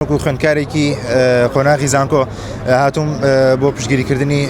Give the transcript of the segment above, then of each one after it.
وەکو خوێندکارێکی قۆناغی زانکۆ هاتووم بۆ پشتگیریکردنی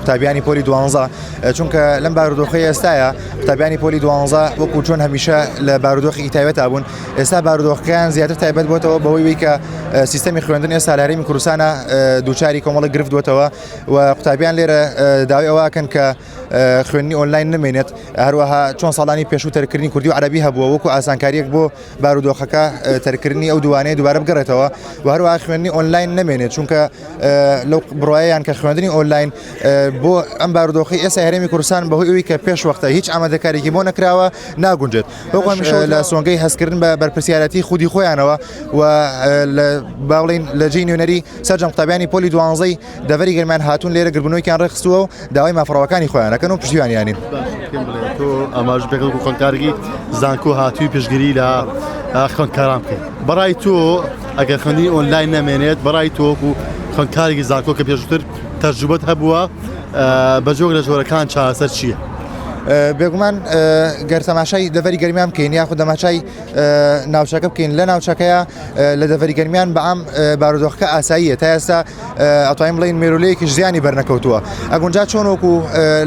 قوتابیانی پۆلی دوانزە چونکە لەم بارودۆخی ئێستاە قوتابیانی پۆلی دوانزە وەکو چۆن هەمیشە لە بارودۆخی ئیتاوێتا بوون ئێستا بارودۆخەکەیان زیاتر تایبەت بۆتەوە بەوەی کە سیستەمی خوێندن ئێستا لەرمی کوردستانە دووچاری کۆمەڵی گرفت بۆتەوە و قوتابیان لێرە داوای ئەوەکەن کە خوێنی ئۆنلاین نمێنێت هەروەها چۆن ساڵانی پێشوو تەرکردنی کوردی و عربی هەبووە وەکو ئاسانکاریەک بۆ بارودۆخەکە تەرکردنی ئەو دووانەیە دووبارە بگەڕێتەوە و هەروە خوێندنی ئۆنلاین نمێنێت چونکە لەو بڕایان کە خوێندنی ئۆنلاین بۆ ئەم بارودۆخی ئێستا هەرێمی کوردستان بەهۆی ئەوی کە پێش وەختە هیچ ئامادەکارێکی بۆ نەکراوە ناگونجێت بۆمیش لە سۆنگەی هەستکردن بە بەرپسیارەتی خودی خۆیانەوە و باڵین لە جی نوێنەری سەررجەم قوتابیانی پۆلی دوانزەی دەڤەری گەرمیان هاتوون لێرە گربنۆکیان ڕێخستووە و داوای مافڕەوەکانی خۆیانەکەن و پشتیوانیانی ئەماژ بێگەڵ خوۆنکارگی زانکۆ هاتووی پشگیری لە خوۆنکاران بکەیت بەڕای تۆ ئەگەر خوندی ئۆنلاین نامێنێت بەڕای تۆک و خوۆنکارێکی زانکۆ کە پێشتر تەرجوبەت هەبووە بە جۆک لە جۆرەکان چاسەر چییە؟ بێگومان گەر تەماشای دەڤری گەرمیان بکەین یاخود دەماچای ناوچەکە بکەین لە ناوچەکەیە لە دەڤری گەرمیان بەام بارودۆخەکە ئاساییە تا ئێستا ئەتوانین بڵین مێرولەیەکیش زیانی بەرنەکەوتووە ئەگونجا چۆن وەکو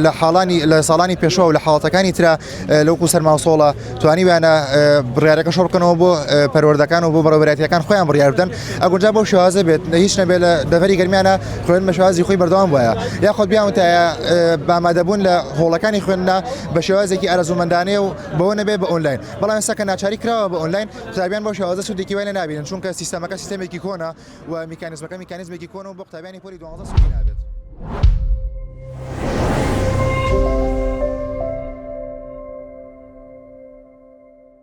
لە حاڵانی لە ساڵانی پێشوە و لە حاڵەتەکانی تررا لەوکو سەرماوسۆڵە توانی وانە بڕارەکە شڕکەنەوە بۆ پەروەردەکان و بۆ بەڕێبراتەکان خۆیان بڕاردن ئەگونجا بۆ شوازە بێت لە هیچ نەبێت لە دەڤری گەرمیانە خوێن بە شوازی خۆی بەردەوام وایە یاخود بیاوتایە بامادەبوون لە هۆڵەکانی خوێندنا بە شێوازێکی ئارەزومەندانەیە و بەوە نەبێ بە ئۆنلاین بەڵام سەکە ناچاری کراوە بە ئۆنلاین قوتابیان بۆ شێوازە سودێکی وای لێ نابینن چونکە سیستەمەکە سیستەمێکی کۆنە و میکانیزمەکە میکانیزمێکی کۆن و بۆ قوتابیانی پۆلی دوازدە سودی نابێت.